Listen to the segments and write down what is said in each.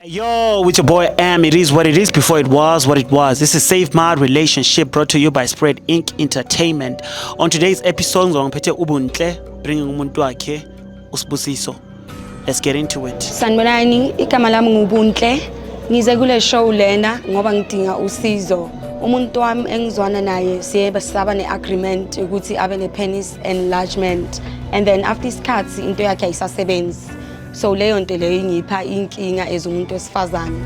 Yo, with your boy M, it is what it is before it was what it was. This is Save My Relationship brought to you by Spread Inc. Entertainment. On today's episode, ngizwa ngiphethe ubuntle bringing umuntu wakhe usibusiso. Let's get into it. Sanibonani, igama lami ngubuntle. Ngize kule show lena ngoba ngidinga usizo. Umuntu wami engizwana naye siye basaba ne-agreement ukuthi abe ne-penis enlargement and then after isikhathi into yakhe ayisasebenzi so leyo nto leyo ingipha inkinga as umuntu wesifazane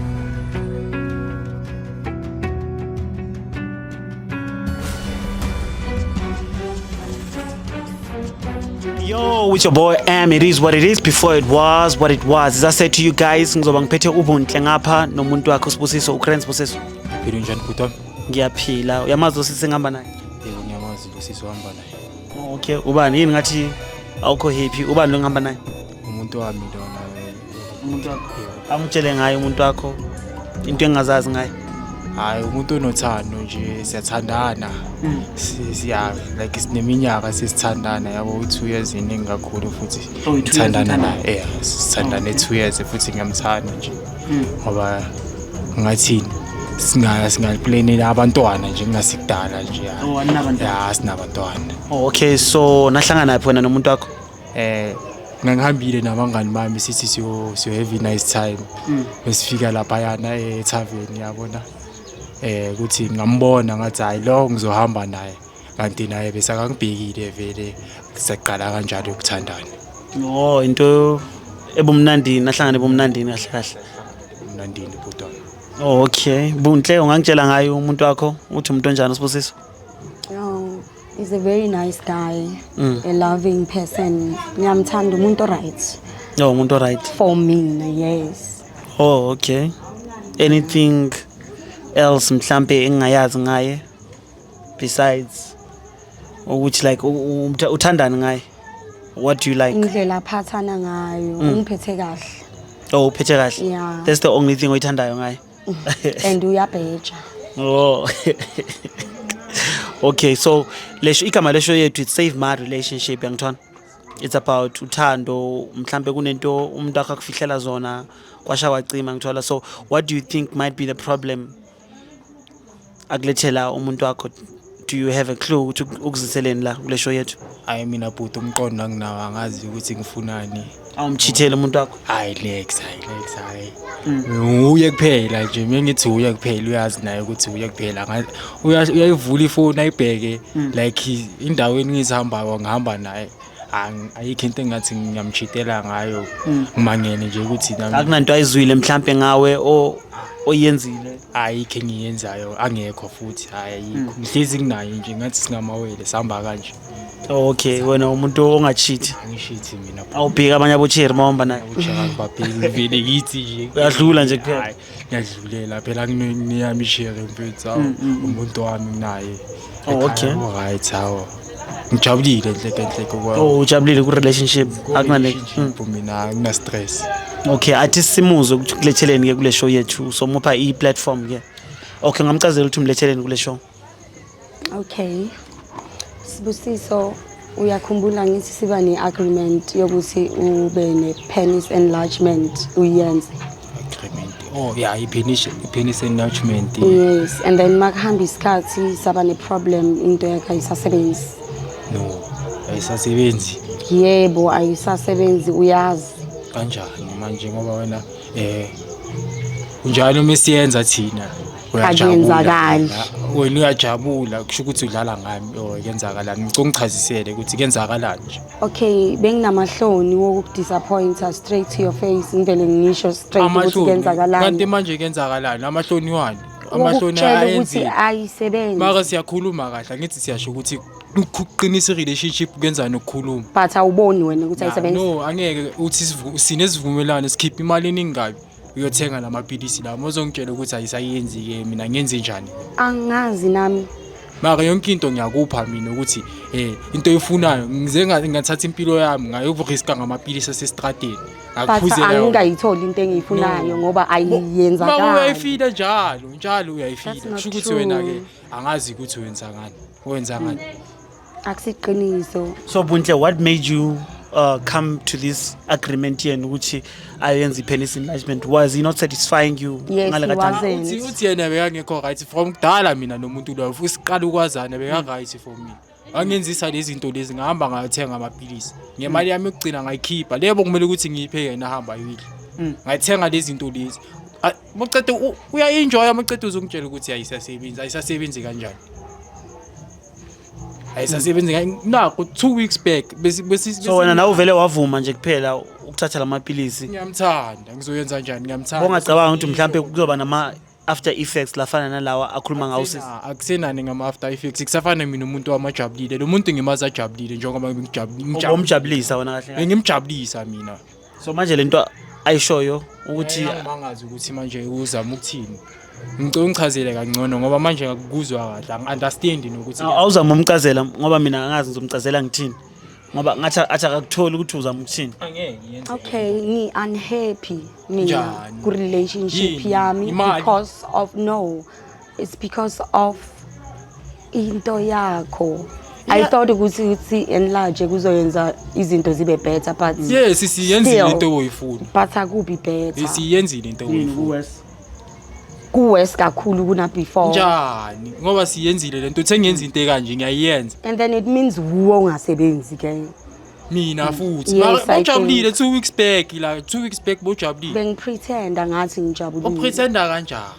Yo, with your boy M, it is what it is before it was what it was. As I said to you guys, ngizoba ngiphethe ubuntle ngapha nomuntu wakhe usibusiso uCrans Busiso. Philo njani bhuti wami? Ngiyaphila. Uyamazi osisi ngihamba naye? Sisi uhamba naye. Oh, okay, ubani yini ngathi awukho happy? Ubani lo ngihamba naye? Umuntu wami lona. Umuntu wakho. Amutshele ngaye umuntu wakho into engazazi ngaye. Hayi umuntu onothando nje siyathandana. Hmm. Siya like sineminyaka sesithandana yabo u2 years iningi kakhulu futhi oh, sithandana naye. Yeah, sithandane 2 years futhi ngiyamthanda nje. ngoba ngathini singa singaplanela abantwana nje kungasikudala nje ya Oh, aninabantwana? ya sinabantwana Oh, okay so nahlangana phi wena nomuntu wakho eh ngangihambile nabangani bami sithi siyo siyo have a nice time besifika lapha yana e tavern yabona eh ukuthi ngambona ngathi hayi lo ngizohamba naye kanti naye besakangibhekile vele saqala kanjalo ukuthandana oh into ebumnandini nahlangana ebumnandini kahle kahle umnandini bhuti wami oh okay bunhle ungangitshela ngayo umuntu wakho uthi umuntu onjani usibusiso Oh, he's a very nice guy, Mm. a loving person. Ngiyamthanda umuntu right no umuntu right for mina, yes. oh okay anything else mhlambe engingayazi ngaye besides ukuthi like uthandani ngaye what do you like indlela aphathana ngayo mm. ungiphethe kahle oh uphethe kahle yeah. that's the only thing oyithandayo ngaye mm. and uyabheja oh okay so lesho igama lesho yethu it's save my relationship yangithona it's about uthando mhlambe kunento umuntu akho akufihlela zona kwasha wacima ngithola so what do you think might be the problem akulethela umuntu wakho do you have a clue ukuthi ukuziseleni la kule show yethu hayi mina bhuti umqondo anginawo angazi ukuthi ngifunani awumchithele umuntu wakho hayi lex hayi lex hayi uye kuphela nje mina ngithi uye kuphela uyazi naye ukuthi uye kuphela Nga- uya- uyayivula ifoni ayibheke like indaweni engizihambayo ngihamba naye Ang- ayikho into engathi ngiyamchitela ngayo Mm. ngimangele nje ukuthi nami akunanto ayizwile mhlampe ngawe o- oyenzile ayikho engiyenzayo angekho futhi hayi ayikho Mm. ngihlezi nginayo nje ngathi singamawele sihamba kanje okay wena umuntu ongachithi angishithi mina awubheki abanye abocheri mawuhamba naye ujaka ngibabheki ngivele ngithi nje Uyadlula nje kuphela. Hhayi. ngiyadlulela phela kuneyami ishere mfethu awu mm, mm, mm. umuntu wami naye oh, okay right awu ngijabulile nhleke nhleke kwami oh ujabulile ku relationship akunale mina ngina stress okay athi simuzwe ukuthi kuletheleni ke kule show yethu somupha i platform ke okay ngamcazela ukuthi umletheleni kule show Okay. Sibusiso uyakhumbula ngithi siba ne-agreement yokuthi ube ne-penis enlargement uyenze. Agreement. Oh yeah, i-penis i-penis enlargement. Yes, and then makuhamba isikhathi saba ne-problem into yakhe ayisasebenzi. No. Ayisasebenzi. Yebo ayisasebenzi uyazi. Kanjani manje ngoba wena eh kunjalo uma siyenza thina? akuyenzakali wena uyajabula kusho ukuthi udlala ngami or kwenzakalani ngicela ungichazisele ukuthi kwenzakalani nje okay benginamahloni wokukudisappointa straight to your face ngivele ngisho straight ukuthi kwenzakalani kanti manje kwenzakalani amahloni wani amahloni ayenzile ayisebenzi maka siyakhuluma kahle ngithi siyasho ukuthi ukuqinisa i-relationship kenzani ukukhuluma but awuboni wena ukuthi ayisebenzi no angeke uthi sinesivumelwano sikhipha imali eningi kabi uyothenga la maphilisi lawa mozongitshela ukuthi ayisayenzi-ke mina ngenze njani angazi nami maka yonke into ngiyakupha mina ukuthi um into eyifunayo ngize nga- ngathatha impilo yami ngayokuriska ngamaphilisi asesitrateni but ngakuphuzela yona. angikayitholi into engiyifunayo ngoba Mama ayiyenzakali uyayifila njalo njalo That's uyayifila not kusho ukuthi true. wena-ke angazi ukuthi wenzangani wenzangani akusiqiniso so buntle what made you uh, come to this agreement yenu ukuthi ayenze i-penis enlargement was he not satisfying you Yes, ngale he kathathu? wasn't. uthi uthi yena bekangekho right from kudala mina nomuntu loyo futhi siqala ukwazana beka-right for mina wangenzisa lezi zinto lezi ngahamba ngayothenga amapilisi ngemali yami yokugcina ngayikhipha lebo kumele ukuthi ngiyiphe yena ahamba ayoyidla Mm. ngayithenga lezi zinto lezi A- mucede u- uya-enjoya mucede uzongitshela ukuthi ayisasebenzi ayisasebenzi kanjani ayisasebenzi nakho two weeks back so wena nawe uvele wavuma nje kuphela ukuthatha la mapilisi ngiyamthanda ngizoyenza njani ngiyamthanda bongacabanga ukuthi mhlawumbe kuzoba nama after effects lafana nalawa akhuluma ngawo sisi akusenani ngama after effects kusafana mina umuntu wamajabulile lo muntu ngimazi ajabulile njengoba ngijabulile ngijabulisa wena kahle ngimjabulisa mina so manje lento ayishoyo ukuthi angimangazi ukuthi manje uzama ukuthini ngicela ungichazele kangcono ngoba manje ngakuzwa kahle angi-understand nokuthi awuzama umcazela ngoba mina angazi ngizomcazela ngithini ngoba ngathi athi akakutholi ukuthi uzama ukuthini okay ni unhappy mina ku-relationship yami because of no It's because of into yakho. I thought ukuthi ukuthi enlarge kuzoyenza izinto zibe better but yes siyenzile Still. into oyifuna but akubi better. siyenzile into Yini oyifuna kuwesi? Ku worse kakhulu kuna before. njani ngoba siyenzile lento uthe ngenza into ekanje ngiyayenza And then it means wuwe ungasebenzi ke. mina futhi Yes, Mara- I bojabulile two weeks back la two weeks back bojabulile Bengipretenda ngathi ngijabulile. upretenda kanjani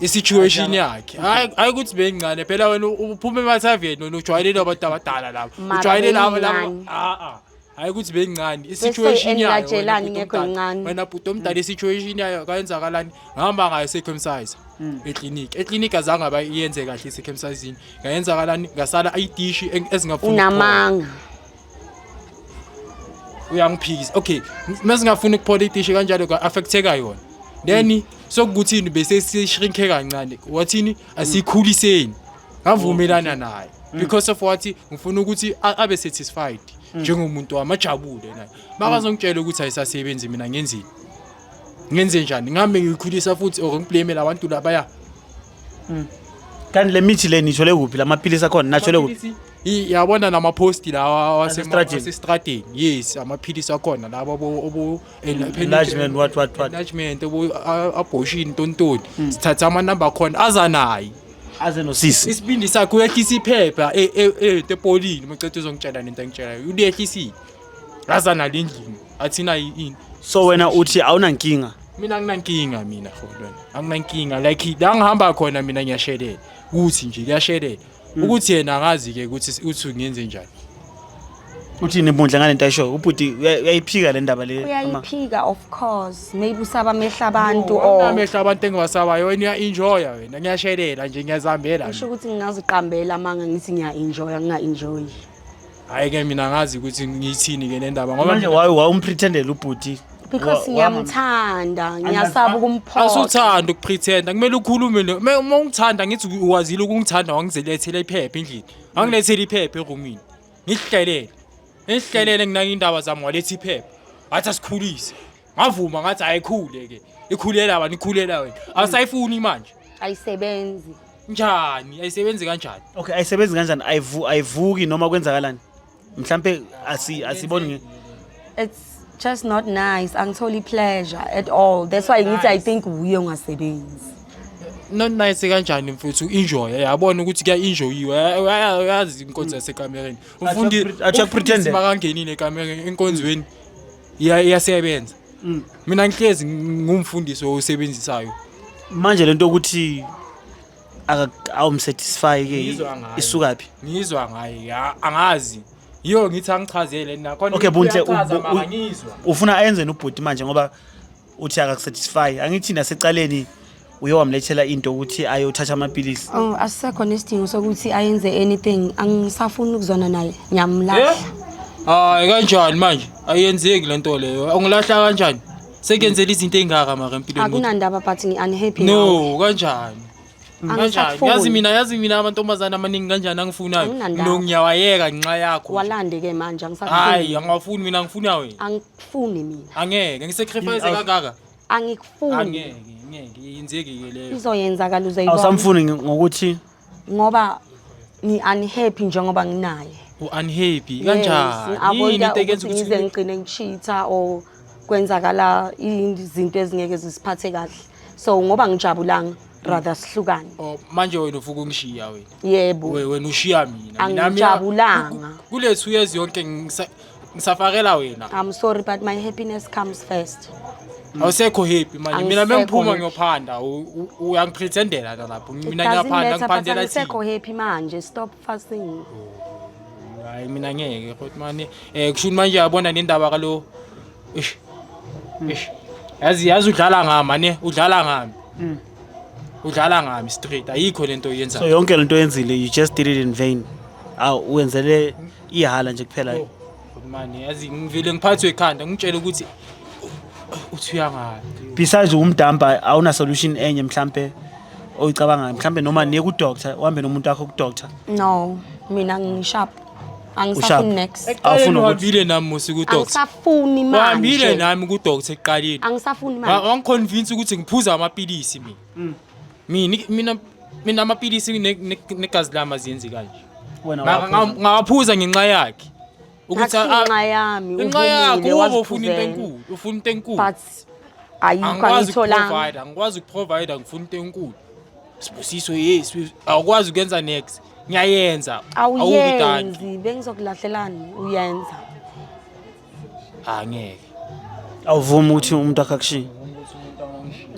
i-situation yakhe hayi hayi ukuthi beyincane phela wena uphuma emathaveni wena ujwayelele abantu abadala laba Mara ujwayele laba laba beyincane. Ah, ah. hayi ukuthi beyincane i-situation yayo wena engilatshelani bhuti ngekho omdala. incane. wena bhuti omdala i-situation yayo kayenzakalani ngihamba ngayo esecomsize ekliniki ekliniki azange aba iyenze kahle isecomsizini ngayenzakalani ngasala idishi eng- ezingafuni ukuphuma. unamanga uyangiphikisa okay uma singafuni ukuphola itishe kanjalo ka-affecteka yona then mm. sokukuthini bese sishrinke kancane wathini asikhuliseni ngavumelana oh, naye mm. because of what ngifuna ukuthi abe satisfied mm. njengomuntu wami ajabule naye makazongitshela ukuthi ayisasebenzi mina ngenzini ngenze njani ngihambe ngiyikhulisa futhi or ngiblamele abantu labaya kanti le mithi le nithole kuphi la maphilisi akhona nathole kuphi I- yabona namaphosti lawa Asestradini. asestradini yes amaphilisi akhona laba obu Enlargement, what, what, what? enlargement obu abortion ntontoni sithatha amanamba akhona aza naye aze nosisi isibindi sakhe uyehlisa iphepha e- e- e- epolini macethe uzongitshela nento engitshelayo uliyehlisile aza nalo endlini athina yini so wena uthi awunankinga mina anginankinga mina holwana anginankinga like la ngihamba khona mina ngiyashelela kuthi nje kuyashelela Hmm. ukuthi yena akazi ke ukuthi uthi ngenze njani uthi nebundla ngale nto ayisho ubhuti uyayiphika le ndaba le uyayiphika of course maybe usaba amehla abantu or amehla abantu engiwasabayo wena uya-enjoya wena ngiyashelela nje ngiyazihambela usho ukuthi ngingaziqambela amanga ngithi ngiya-enjoya nginga-enjoyi hayi ke mina ngazi ukuthi ngiyithini ke le ndaba ngoba manje waye wawumpretendela ubhuti because ngiyamthanda ngiyasaba ukumphoxa asuthanda ukupretenda kumele ukhulume ne- me- uma ungithanda ngithi u- wazile ukungithanda wangizilethela iphepha endlini wangilethela iphepha erumini ngihlelele ngihlelele nginake indaba zami waletha iphepha athi asikhulise ngavuma ngathi ayikhule ke ikhulela wena ikhulela wena awusayifuni manje ayisebenzi njani ayisebenzi kanjani okay ayisebenzi kanjani ayivu ayivuki noma kwenzakalani mhlambe asi asiboni nge it's just not nice angitholi pleasure at all that's why ngithi i think wuye ungasebenzi not nice kanjani mfethu enjoy yabona ukuthi kuya enjoyiwe uyazi inkonzo yasekamereni umfundi Acha pretend. umfundisi makangenile ekamereni enkonzweni Iya- iyasebenza Mm. mina ngihlezi ngumfundisi owusebenzisayo manje lento ukuthi aka- awumsatisfy ke Ngizwa ngayo. isuka phi ngizwa ngaye ya- angazi yiyo ngithi angichazele nakhona Okay, Buntle, uyachaza, u- u- mama, ngizwa ufuna ayenzeni ubhuti manje ngoba uthi akakusatisfy angithi nasecaleni uye wamlethela into ukuthi ayothatha amaphilisi Oh, asisekho nesidingo sokuthi ayenze anything. Angisafuni ukuzwana naye. Ngiyamlahla. hayi kanjani manje ayenzeki le nto leyo ungilahla kanjani sekuyenzela izinto ey'ngaka maka empilweni ukuthi- Akunandaba but ngi-unhappy ngawe. no kanjani kanjani Angisakufuni. yazi mina yazi mina amantombazane amaningi kanjani angifunayo Anginandaba. no ngiyawayeka ngenxa yakho Walande-ke manje angisakufuni. hayi angawafuni mina ngifuna wena Angi- angikufuni mina angeke ngisacrifice Awu. kangaka angikufuni angeke ngeke yenzeki-ke leyo izoyenzakala uzoyibona awusamfuni ngi- ngokuthi ngoba ngi-unhappy njengoba nginaye u-unhappy Yes, kanjani ngi-avoida yini into ekenza ukuthi ngize ukuthi ngigcine ngishitha or kwenzakala izinto ezingeke zisiphathe kahle so ngoba ngijabulanga rather sihlukane Oh, manje wena ufuke ungishiya wena yebo We- wena ushiya mina Mina- mina- Angijabulanga. ku- ku- kule two years yonke ngisa- Ngisafakela wena. I'm sorry but my happiness comes first. Awusekho happy manje. Mina Angisekho mengiphuma happy. ngiyophanda. u- u- Uyangipretendela la lapho. It Mina doesn't ngiyaphanda matter, but ngiphandela angisekho thina. happy manje. Stop fussing. Hayi mina ngeke futhi manje. Eh kusho ukuthi manje yabona nendaba kalo. Eish. Eish. Yazi yazi udlala ngami ne udlala ngami. Mm. Udlala ngami straight. Ayikho lento oyenzayo. So yonke lento oyenzile you just did it in vain. Aw wenzele ihala nje kuphela Oh, mani yazi ngivele ngiphathwe ikhanda ngitshele ukuthi u- uthi uyangala besides uwumdamba awuna solution enye mhlampe oyicabangayo mhlampe noma niye kudoctor uhambe nomuntu wakho kudoctor no mina ngisharp Usharp. angisafuni next Awufuni eqaleni ukuthi- uhambile nami musi kudoctor angisafuni wahambile manje nami kudoctor ekuqaleni angisafuni Wa- manje wangiconvince ukuthi ngiphuza amapilisi mina Mm. Mi- ni- mina mina amapilisi ne- ne- negazi lami aziyenzi kanje Wena Nga- waphuza. nga- ngawaphuza ngenxa yakhe ukuthi Athi a- inxa yami inxa yakho uvumile uba ufuna into waziphuzela. enkulu ufuna into enkulu but ayikho angikwazi angitholanga ukuprovide angikwazi ukuprovide ngifuna into enkulu sibusiso yes we- awukwazi ukwenza next ngiyayenza awuvidani awuyenzi bengizokulahlelan uyenza angeke awuvumi ukuthi umuntu akhe akushiye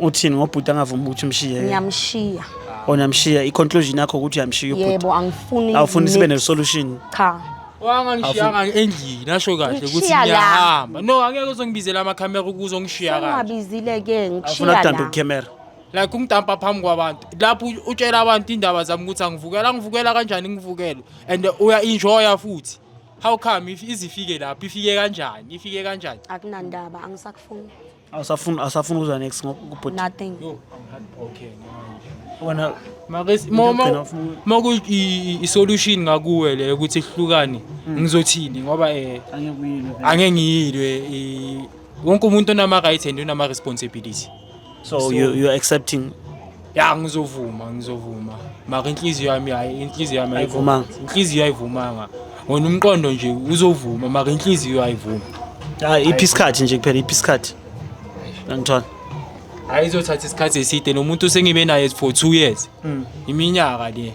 uthini ngobhuti angavumi ukuthi umshiye ngiyamshiya onamshiya i-conclusion yakho ukuthi uyamshiya ubhuti yebo angifuni awufuni sibe ne-solution cha wangangishiyanga endlini nasho kahle ukuthi Ngishiya la. ngiyahamba no angeke uzongibizela amakhamera ukuze ongishiya kahle ungabizile ke awufuna ngishiya kudambe la ukhemera like ungidampa phambi kwabantu lapho u- utshela abantu indaba zami ukuthi angivukela angivukela kanjani ngivukele and uya-enjoya futhi how come if izifike lapho ifike kanjani ifike kanjani akunandaba angisakufuni awusafuni awusafuni ukuzwa next ngokubhuti nothing yo i'm heartbroken wena Makes- mo- mo- Ngigcina ufuna- moku i- i- isolution ngakuwe le ukuthi sihlukane ngizothini ngoba eh angekuyilo angengiyilwe i- wonke umuntu onama-rights and onama-responsibility so, so you, you're accepting ya ngizovuma ngizovuma maka inhliziyo yami hayi inhliziyo yami ayivumanga inhliziyo ayivumanga wona umqondo nje uzovuma maka inhliziyo ayivuma hayi iphi isikhathi nje kuphela iphi isikhathi angithola hayi izothatha isikhathi eside nomuntu sengibe naye for two years hmm. iminyaka le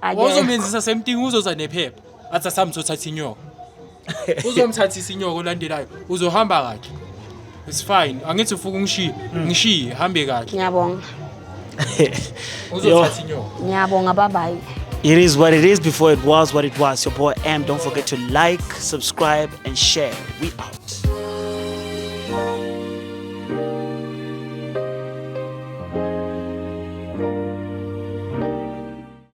Akekho. wawuzomenzisa same thing uzoza nephepha athi asamthi othatha inyoko uzomthathisa inyoko olandelayo uzohamba kahle it's fine angithi ufuka ungishiye ngishiye hambe kahle ngiyabonga uzothatha inyoko ngiyabonga babayi It is what it is before it was what it was. Your boy M. Don't forget to like, subscribe, and share. We out.